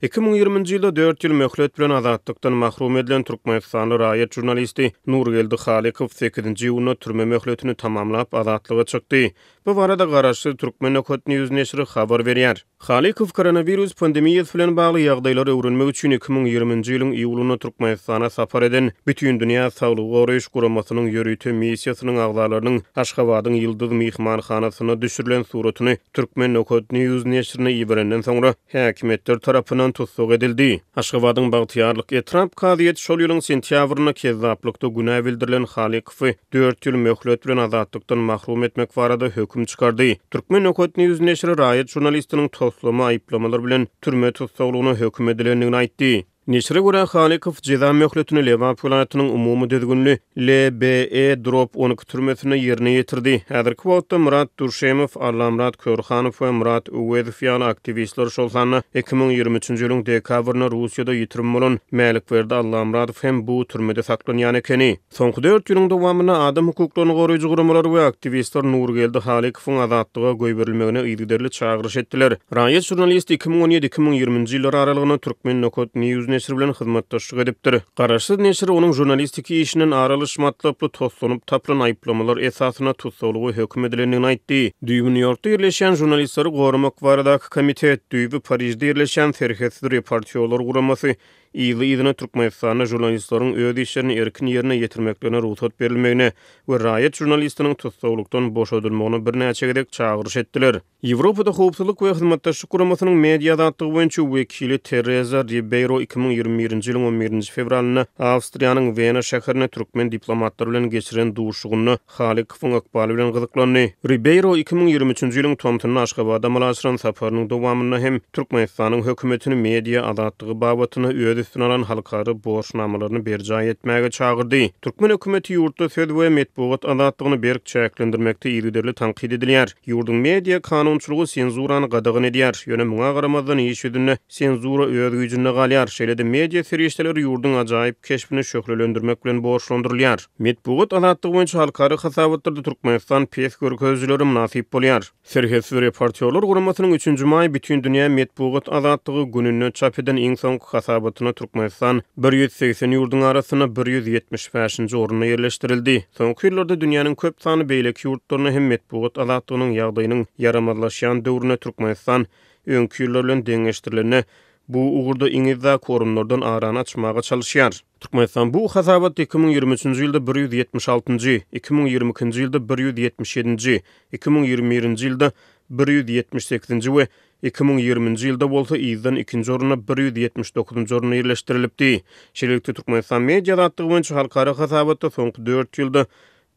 Iki müň ýigriminji ýylda dört ýyl möhlet bilen azatlykdan mahrum edilen türkmenistanly raýat žurnalisti Nurgeldi Halykow sekizinji iýunda türme möhletini tamamlap, azatlyga çykdy. Bu barada garaşsyz Turkmenokat news neşiri habar berýär. Halykow koronawirus pandemiýasy bilen bagly ýagdaýlary öwrenmek üçin iki müň ýigriminji ýylyň iýulynda Türkmenistana sapar eden Bütindünýä saglygy goraýyş guramasynyň ýörite missiýasynyň agzalarynyň Aşgabadyň Ýyldyz myhmanhanasynda düşürilen suratyny Türkmen Nokat News neşirine iberenden soňra, häkimiýetler tarapyndan tussag edildi. Aşgabadyň Bagtyýarlyk etrap kazyýeti şol ýylyň sentýabrynda kezzaplykda günä bildirilen Halykowy dört ýyl möhlet bilen azatlykdan mahrum etmek barada höküm çykardy. Türkmen Nokat News neşiri raýat žurnalistiniň toslama aýyplamalar bilen türme tussaglygyna höküm edilendigini aýtdy. Neşire görä, Halykow jeza möhletini Lebap welaýatynyň umumy düzgünli LBE drop on iki türmesinde ýerine ýetirdi. Häzirki wagtda Myrat Durşemow, Allamyrat Körhanow we Myrat Öwezow ýaly aktiwistler, şol sanda iki müň ýigrimi üçünji ýylyň dekabrynda Russiýada ýitirim bolan Mälikberdi Allamyradow hem bu türmede saklanýan ekeni. Soňky dört ýylyň dowamynda adam hukuklaryny goraýjy guramalar we aktiwistler Nurgeldi Halykowyň azatlyga goýberilmegine yzygiderli çagyryş etdiler. Raýat žurnalisti iki müň on ýedi, iki müň ýirminji ýyllar aralygynda Turkmennokat News neşiri bilen hyzmatdaşlyk edipdir. Garaşsyz neşir onuň žurnalistik işinden ar alyş matlaply toslanyp tapylan aýyplamalar esasynda tussaglyga höküm edilendigini aýtdy. Düýbi Nýu-Ýorkda ýerleşýän Žurnalistleri goramak baradaky komitet, düýbi Parižde ýerleşýän Serhetsiz reportýorlar guramasy, yzly-yzyna Türkmenistanda žurnalistlaryň öz işlerini erkin ýerine ýetirmeklerine rugsat berilmegine we raýat žurnalistiniň tussaglykdan boşadylmagyna birnäçe gezek çagyryş etdiler. Ýewropada Howpsuzlyk we Hyzmatdaşlyk Guramasynyň media azatlygy boýunça wekili Tereza Ribeýro iki müň ýigrimi birinji ýylyň on birinji fewralynda Awstriýanyň Wena şäherinde türkmen diplomatlary bilen geçiren duşuşygynda Halykowyň ykbaly bilen gyzyklandy. Ribeýro iki müň ýigrimi üçünji ýylyň tomsunda Aşgabada amala aşyran saparynyň dowamynda hem Türkmenistanyň hökümetini media azatlygy babatynda öz üstüne alan halkara borçnamalaryny berjaý etmäge çagyrdy. Türkmen hökümeti ýurtda söz we metbugat azatlygyny berk çäklendirmekde yzygiderli tankyt edilýär. Ýurduň media kanunçylygy senzurany gadagan edýär. Ýöne muňa garamazdan iş ýüzünde senzura öz güýjünde galýar. Şeýle-de media serişdeleri ýurduň ajaýyp keşbini şöhlelendirmek bilen borçlandyrylýar. Metbugat azatlygy boýunça halkara hasabatlarda Türkmenistan pes görkezijilere mynasyp bolýar. Serhetsiz reportýorlar guramasynyň üçünji maý Bütindünýä metbugat azatlygy gününde çap eden iň soňky hasabatynda Türkmenistan bir ýüz segsen ýurduň arasynda bir ýüz ýetmiş bäşinji orunda ýerleşdirildi. Soňky ýyllarda dünýäniň köp sanly beýleki ýurtlarynda hem metbugat azatlygynyň ýagdaýynyň ýaramazlaşýan döwründe Türkmenistan öňki ýyllar bilen deňeşdirilende bu ugurda iň yzdaky orunlardan arany açmaga çalyşýar. Türkmenistan bu hasabat iki müň ýigrimi üçünji ýylda bir ýüz ýetmiş altynjy, iki müň ýigrimi ikinji ýylda bir ýüz ýetmiş ýedinji, iki müň ýigrimi birinji ýylda bir ýüz ýetmiş sekizinji we iki müň ýigriminji ýylda bolsa yzdan ikinji orunda bir ýüz ýetmiş dokuzynjy orunda ýerleşdirilipdi. Şeýlelikde, Türkmenistan media azatlygy boýunça halkara hasabatda soňky dört ýylda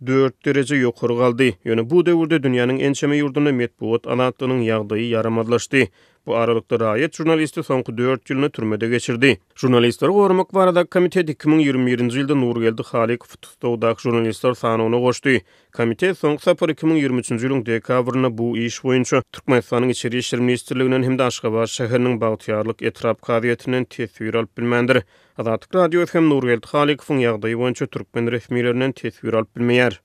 dört dereje ýokary galdy. Ýöne bu döwürde dünýäniň ençeme ýurdunda metbugat azatlygynyň ýagdaýy ýaramazlaşdy. Bu aralykda raýat žurnalisti soňky dört ýylyny türmede geçirdi. Žurnalistleri goramak baradaky komitet iki müň ýigrimi birinji ýylda Nurgeldi Halykowy tussagdaky žurnalistler sanawyna goşdy. Komitet soňky sapar iki müň ýigrimi üçünji ýylyň dekabrynda bu iş boýunça Türkmenistanyň Içeri işler ministrliginden hem-de Aşgabat şäheriniň Bagtyýarlyk etrap kazyýetinden teswir alyp bilmändir. Azatlyk Radiosy hem Nurgeldi Halykowyň ýagdaýy boýunça türkmen resmilerinden teswir alyp bilmeýär.